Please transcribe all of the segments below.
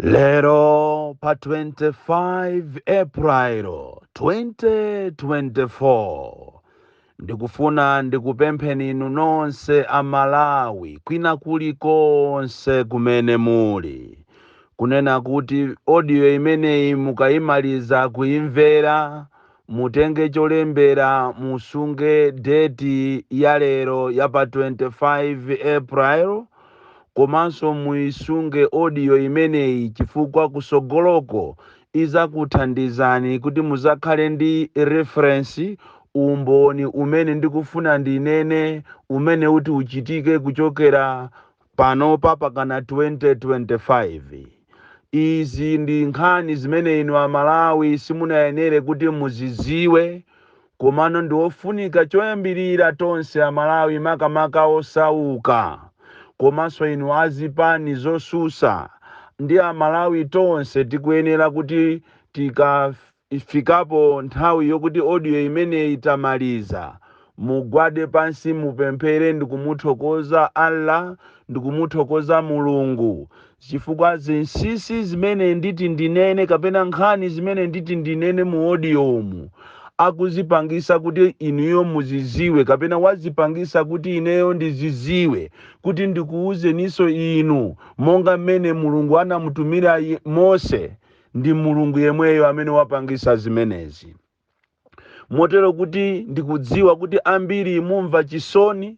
Lero pa 25 April 2024 ndikufuna ndikupempheni inu nonse a Malawi kwina kulikonse kumene muli kunena kuti audio imeneyi mukayimaliza kuimvera Mutenge cholembera musunge date ya lero ya pa 25 April komanso muisunge audio imeneyi chifukwa kusogoloko izakuthandizani kuti muzakhale ndi reference, umboni umene ndikufuna ndinene umene uti uchitike kuchokera Panopa pakana 2025. Izi ndi nkhani zimene inu a Malawi simunayenere kuti muzidziwe komano ndi ofunika choyambirira tonse a Malawi makamaka osauka komanso inu a zipani zosusa ndi a Malawi tonse tikuyenera kuti tikaf. Ifikapo nthawi yokuti audio imene itamaliza mugwade pansi mupemphere ndikumuthokoza Allah ndikumuthokoza Mulungu chifukwa zinsisi zimene nditi ndinene kapena nkhani zimene nditi ndinene mu audiomu akuzipangisa kuti inuyo muziziwe kapena wazipangisa kuti ineyo ndiziziwe kuti ndikuuzeniso inu monga mmene Mulungu anamutumira Mose Ndi Mulungu yemweyo amene wapangisa zimenezi. Motero kuti ndikudziwa kuti ambiri mumva chisoni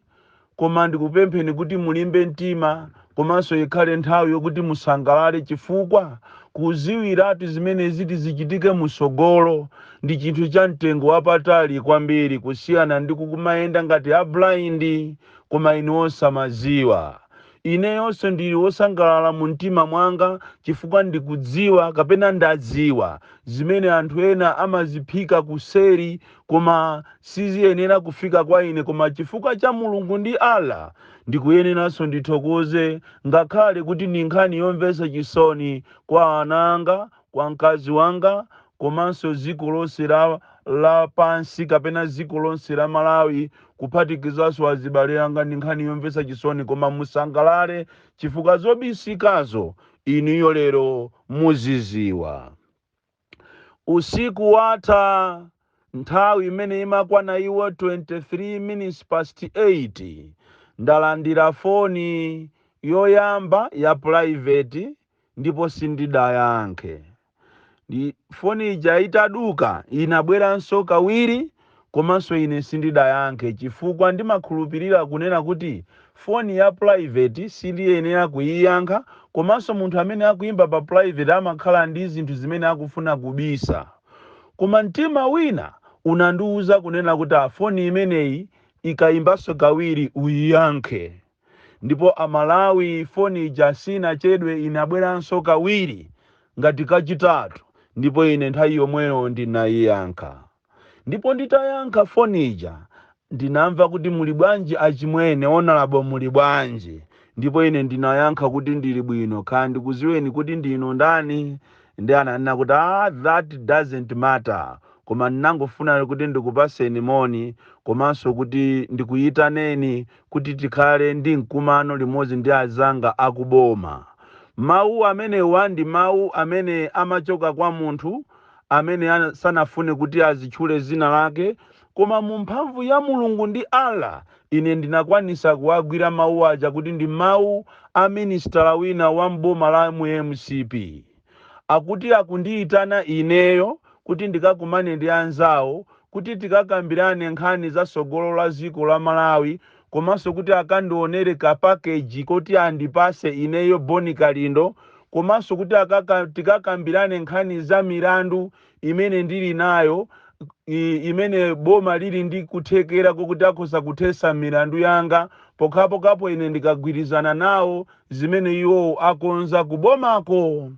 koma ndikupempheni kuti mulimbe mtima komanso ikhale nthawi yokuti musangalale chifukwa kuziwiratu zimene ziti zichitike musogolo ndi chinthu cha mtengo wapatali kwambiri kusiyana ndi kukumayenda ngati a blind koma inu osamaziwa. Ineyonso ndili wosangalala mumtima mwanga chifukwa ndikudziwa kapena ndadziwa zimene anthu ena amaziphika kuseri koma siziyenera kufika kwa ine koma chifukwa cha Mulungu ndi Allah ndikuyeneranso ndithokoze ngakhale kuti ndi nkhani yomvetsa chisoni kwa ana anga kwa mkazi wanga komanso dziko lonse la pansi kapena dziko lonse la Malawi kuphatikizanso azibale anga ndi nkhani yomvetsa chisoni koma musangalale chifukwa zobisikazo inuyo lero muziziwa usiku watha nthawi imene imakwana iwo 23 minutes past 8 ndalandira foni yoyamba ya private ndipo sindidayankhe. Ndiye foni ija itaduka inabweranso kawiri komanso ine sindidayankhe chifukwa ndimakhulupirira kunena kuti foni ya private sindiyenera kuyiyankha komanso munthu amene akuyimba pa private amakhala ndi zinthu zimene akufuna kubisa. Koma mtima wina unandiuza kunena kuti a foni imeneyi ikayimbanso kawiri uyiyankhe. ndipo a Malawi foni ija sinachedwe inabweranso kawiri ngati kachitatu ndipo ine nthawi yomweyo ndinayiyankha ndipo nditayankha foni ija ndinamva kuti muli bwanji achimwene Honourable muli bwanji ndipo ine ndinayankha kuti ndili bwino kaya ndikuziweni kuti ndinu ndani ndiye ananena kuti ah that doesn't matter koma ndinangofuna kuti ndikupaseni moni komanso kuti ndikuyitaneni kuti tikhale ndi mkumano limodzi ndi azanga akuboma. Mawu amenewa ndi mawu amene amachoka kwa munthu amene ana, sanafune kuti azitchule dzina lake, koma mu mphamvu ya Mulungu ndi Allah ine ndinakwanisa kuwagwira mawu aja kuti ndi mawu a minisitala wina wa m'boma la mu mcp. akuti akundiitana ineyo kuti ndikakumane ndi anzawo kuti tikakambirane nkhani za tsogolo la dziko la Malawi komanso kuti akandionere ka package koti andipatse ineyo Bon Kalindo komanso kuti akaka, tikakambirane nkhani za milandu imene ndili nayo i- imene boma lili ndi kuthekera kokuti akhoza kuthetsa milandu yanga pokhapokhapo ine ndikagwirizana nawo zimene iwowo akonza kubomako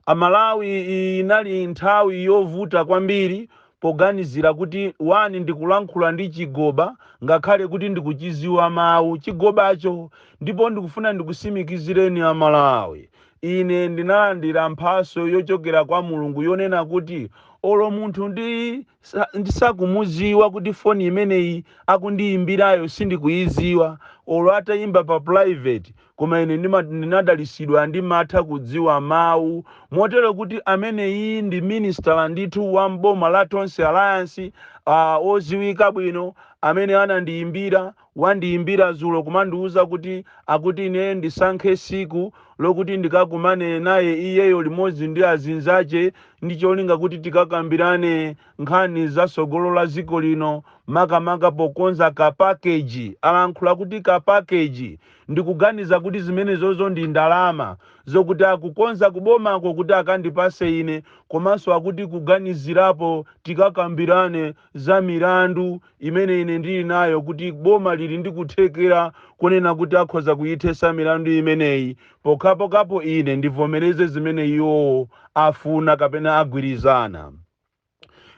amalawi iyi inali nthawi yovuta kwambiri poganizira kuti one ndikulankhula ndi chigoba ngakhale kuti ndikuchiziwa mawu chigobacho ndipo ndikufuna ndikusimikizireni amalawi Ine ndinalandira mphatso yochokera kwa Mulungu yonena kuti olo munthu ndi sa, ndisakumuziwa kuti foni imeneyi akundiyimbirayo sindikuyiziwa olo atayimba pa private koma ine ndima, ndinadalisidwa ndimatha kudziwa mawu motero kuti ameneyi ndi minisitala ndithu wa m'boma la Tonse Alliance uh, oziwika bwino amene anandiyimbira wandiyimbira dzulo kumandiuza kuti akuti ine ndisankhe siku lokuti ndikakumane naye iyeyo limodzi ndi azinzache ndi cholinga kuti tikakambirane nkhani za sogolo la ziko lino makamaka pokonza ka package alankhula kuti ka package ndikuganiza kuti zimenezozo ndi ndalama zokuti akukonza kubomako kuti akandipase ine komanso akuti kuganizirapo tikakambirane za milandu imene ine ndili nayo kuti boma lili ndi kuthekera kunena kuti akhoza kuyithesa milandu imeneyi pokhapokhapo ine ndivomereze zimene iwowo afuna kapena agwirizana.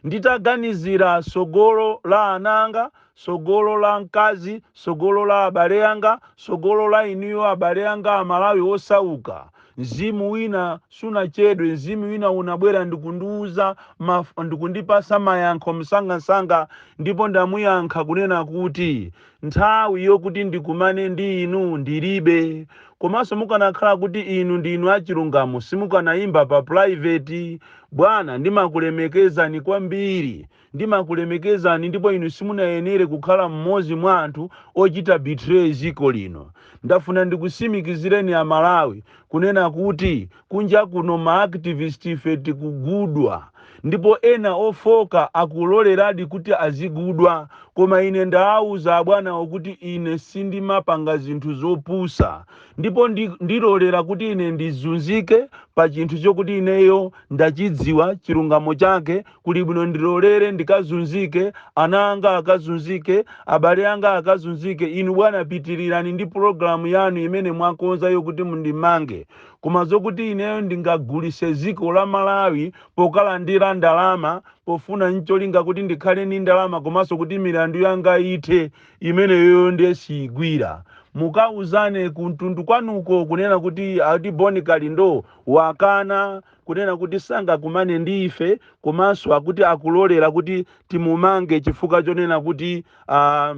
Nditaganizira tsogolo la ana anga, tsogolo la mkazi, tsogolo la abale anga, tsogolo la inuyo abale anga Amalawi osauka, Mzimu wina sunachedwe, Mzimu wina unabwera ndikundiuza maf, ndikundipasa mayankho msangasanga ndipo ndamuyankha kunena kuti nthawi yokuti ndikumane ndi inu ndilibe. Komanso mukanakhala kuti inu ndinu achilungamo simukanayimba pa private. Bwana ndimakulemekezani kwambiri Ndimakulemekezani ndipo inu simunayenere kukhala mmodzi mwa anthu ochita betray ziko lino. Ndafuna ndikusimikizireni a Malawi kunena kuti kunja kuno ma activist ife tikugudwa ndipo ena ofooka akuloleradi kuti azigudwa koma ine ndaauza abwanawo kuti ine sindimapanga zinthu zopusa ndipo ndi ndilolera kuti ine ndizunzike pa chinthu chokuti ineyo ndachidziwa chilungamo chake kuli bwino ndilolere ndikazunzike ana anga akazunzike abale anga akazunzike inu bwana pitirirani ndi pulogalamu yanu imene mwakonza yokuti mundimange koma zokuti ineyo ndingagulise ziko la malawi pokalandira ndalama pofuna ncholinga kuti ndikhale ni ndalama komanso kuti milandu yanga ithe imeneyoyo ndiye siyigwira mukauzane kuntundu kwanuko kunena kuti ati boni kalindo wakana kunena kuti sangakumane ndi ife komanso akuti akulolera kuti timumange chifukwa chonena kuti ah,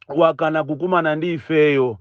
wakana kukumana ndi ifeyo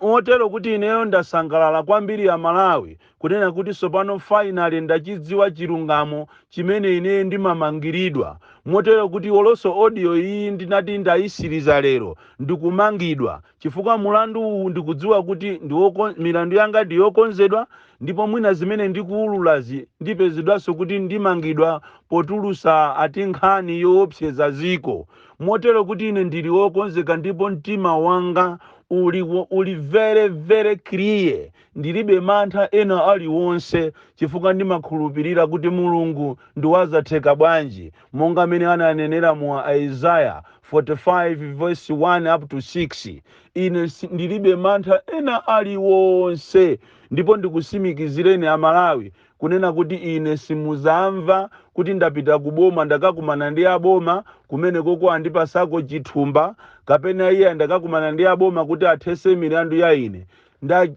motero kuti ineyo ndasangalala kwambiri a malawi kunena kuti tsopano finally ndachidziwa chilungamo chimene ineyo ndimamangiridwa motero kuti olonso audio iyi ndinati ndayisiriza lero ndikumangidwa chifukwa mulandu uwu ndikudziwa kuti ndi woko, milandu yanga ndi yokonzedwa ndipo mwina zimene ndikuululazi ndipezedwanso kuti ndimangidwa potulusa ati nkhani yoopseza ziko motero kuti ine ndili okonzeka ndipo mtima wanga uli, wo- uli very very clear ndilibe mantha ena aliwonse chifukwa ndimakhulupirira kuti mulungu ndiwazatheka bwanji monga mmene ananenera mu Isaiah 45 verse 1 up to 6, ine ndilibe mantha ena aliwonse ndipo ndikusimikizireni a Malawi kunena kuti ine simuzamva kuti ndapita ku boma ndakakumana ndi a boma kumene koko andipasako chithumba kapena iya ndakakumana ndi a boma kuti athese milandu ya ine.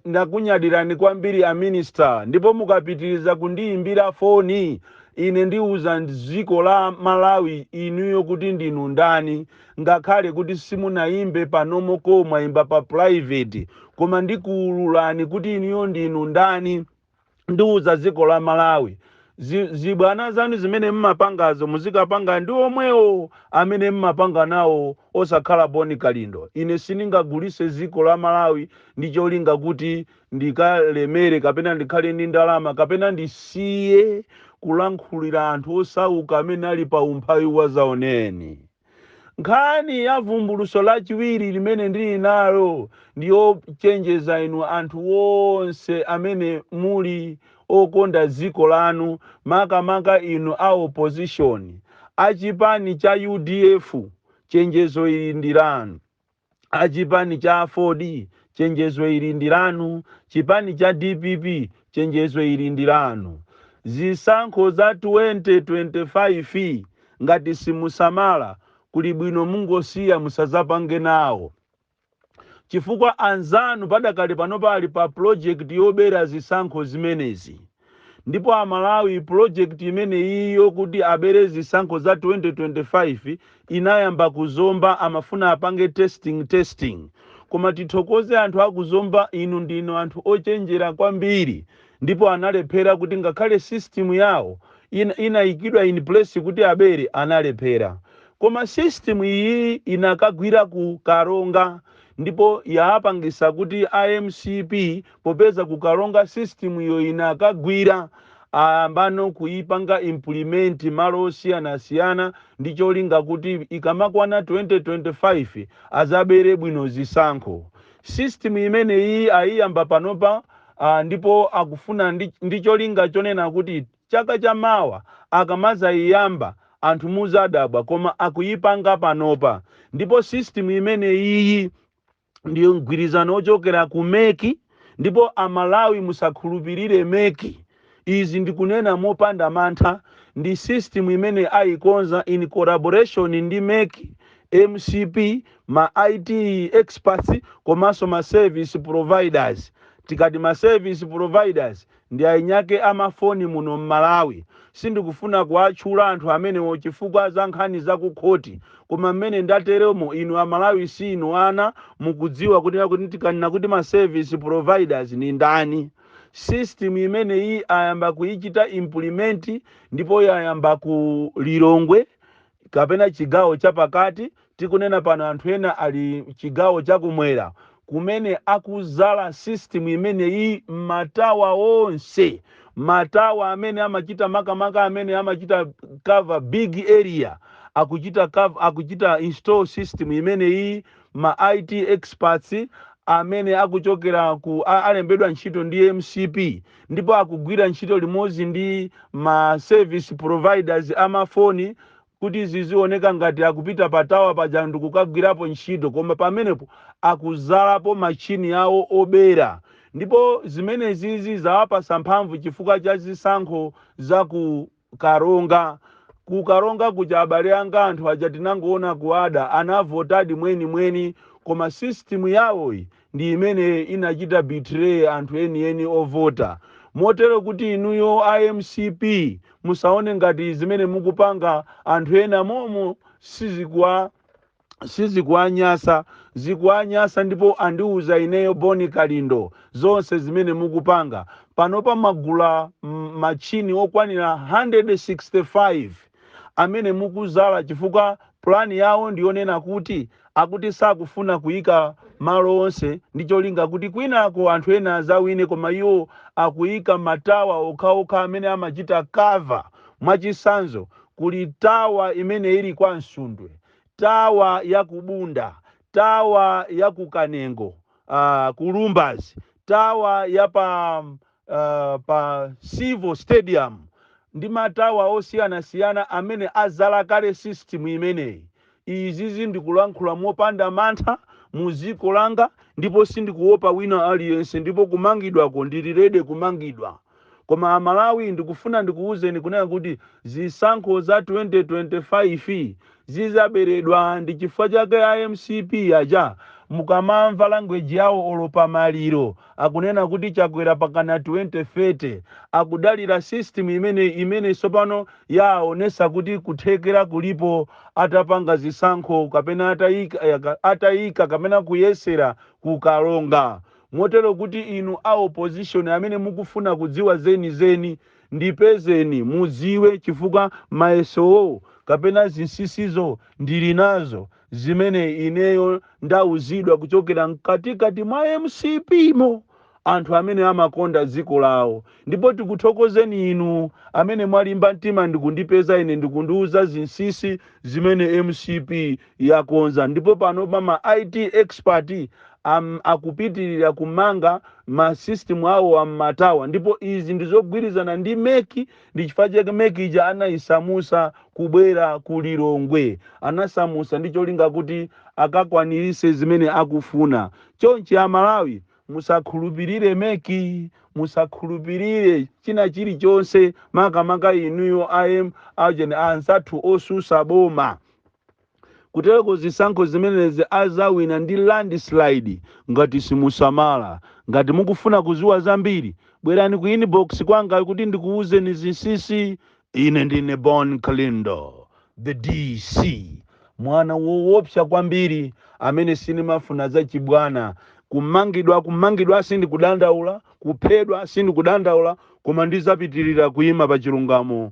Ndakunyadirani kwambiri a minister ndipo mukapitiriza kundiyimbira foni ine ndiuza dziko la Malawi inuyo kuti ndinu ndani ngakhale kuti simunayimbe pa normal call mwayimba pa private koma ndikuululani kuti inuyo ndinu ndani. ndiuza dziko la malawi zibwana zanu zimene mmapangazo muzikapanga ndi omwewo amene mmapanga nawo osakhala boni kalindo ine siningagulise dziko la malawi ndi cholinga kuti ndikalemere kapena ndikhale ndi ndalama kapena ndisiye kulankhulira anthu osauka amene ali pa umphawi wazaoneni Nkhani ya vumbuluso lachiwiri limene ndili nalo ndi yochenjeza inu anthu wonse amene muli okonda dziko lanu, makamaka inu a opposition, a chipani cha udf, chenjezo ili ndi lanu. achipani cha aford chenjezo ili ndi lanu chipani cha dpp chenjezo ili ndi lanu zisankho za 2025 ngati simusamala kuli bwino mungosiya musazapange nawo chifukwa anzanu padakali pano ali pa project yobera zisankho zimenezi ndipo amalawi project imeneyiyo kuti abere zisankho za 2025 inayamba ku zomba amafuna apange testing testing koma tithokoze anthu aku zomba inu ndinu anthu ochenjera kwambiri ndipo analephera kuti ngakhale system yawo inayikidwa in place kuti abere analephera koma system iyi inakagwira ku karonga ndipo yaapangisa kuti a mcp popeza ku karonga system iyo inakagwira ayambano kuipanga implement malo osiyanasiyana ndi cholinga kuti ikamakwana 2025 azabere bwino zisankho system imeneyi ayiyamba panopa ndipo akufuna ndi cholinga chonena kuti chaka cha mawa akamazayiyamba anthu muzadabwa koma akuyipanga panopa ndipo system imeneyiyi ndi ya mgwirizano wochokera ku mec ndipo amalawi musakhulupirire mec izi ndikunena mopanda mantha ndi system imene ayikonza in collaboration ndi mec mcp ma it experts komanso ma service providers tikati ma service providers ndi ainyake a ma foni muno m'Malawi. Sindikufuna kuwatchula anthu amenewo chifukwa za nkhani za ku khoti, koma m'mene ndateromo inu a Malawi siinu ana, mukudziwa kuti tikanena kuti ma service providers ndi ndani. System imeneyi ayamba kuichita implement ndipo yayamba ku Lilongwe kapena chigawo cha pakati, tikunena pano anthu ena ali chigawo cha kumwera, kumene akuzala system imeneyi m'ma tower onse, ma tower amene amachita makamaka amene amachita cover big area, akuchita install system imeneyi, ma IT experts amene akuchokera ku, alembedwa ntchito ndi mcp. ndipo akugwira ntchito limodzi ndi ma service providers amafoni kuti zizioneka ngati akupita pa tawa paja ndikukagwirapo ntchito koma pamenepo akuzalapo machini yawo obera ndipo zimenezizi zawapasa mphamvu chifukwa cha zisankho za ku karonga Ku karonga kuja abale anga anthu aja tinangoona kuada anavotadi mweni mweni koma system yawoyi ndi imene inachita betray anthu enieni ovota motero kuti inuyo a mcp musaone ngati zimene mukupanga anthu ena momo sizikuwa sizikuwanyasa zikuwanyasa ndipo andiuza ineyo boni kalindo zonse zimene mukupanga panopa mwagula machini okwanira 165 amene mukuzala chifukwa pulani yawo ndiyonena kuti akuti sakufuna kuyika malo onse ndi cholinga kuti kwinako anthu ena azawine koma iwo akuyika matawa okhaokha amene amachita cover mwachisanzo kuli tawa imene ili kwa msundwe tawa ya ku bunda, tawa ya ku kanengo, uh, ku lumbazi tawa ya pa uh, pa civo stadium ndi matawa osiyanasiyana amene azala kale system imeneyi izizi ndikulankhula mopanda mantha muziko langa ndipo sindikuopa wina aliyense ndipo kumangidwako ndili ready kumangidwa Koma amalawi ndikufuna ndikuuzeni kunena kuti zisankho za 2025 zizaberedwa ndichifukwa chake a mcp aja mukamamva language yawo olo pa maliro akunena kuti chakwera pakana 2030 akudalira system imene sopano yaaonesa kuti kuthekera kulipo atapanga zisankho kapena ataika kapena kuyesera ku karonga Motero kuti inu a opposition amene mukufuna kudziwa zenizeni ndipezeni mudziwe chifukwa mayesowo kapena zinsisizo ndili nazo zimene ineyo ndauzidwa kuchokera mkatikati mwa mcp mo anthu amene amakonda dziko lawo ndipo tikuthokozeni inu amene mwalimba mtima ndikundipeza ine ndikundiuza zinsisi zimene mcp yakonza ndipo panopa ma IT expert akupitilira kumanga ma system awo a m'ma tower ndipo izi ndizogwirizana ndi mec ndi chifukwa chake mec ija anayisamusa kubwera ku Lilongwe. Anayisamusa ndi cholinga kuti akakwanirise zimene akufuna. Chonchi a Malawi musakhulupilire mec, musakhulupilire china chilichonse makamaka inuyo aujeni anzathu osusa boma. Kutereko zisankho zimenezi azawina ndi land slide ngati simusamala. Ngati mukufuna kuziwa zambiri bwerani ku inbox kwanga kuti ndikuwuzeni zinsinsi. Ine ndine Bon Kalindo the DC mwana wowopsa kwambiri amene sindimafuna zachibwana. Kumangidwa kumangidwa sindikudandaula, kuphedwa sindikudandaula koma ndizapitilira kuyima pachilungamo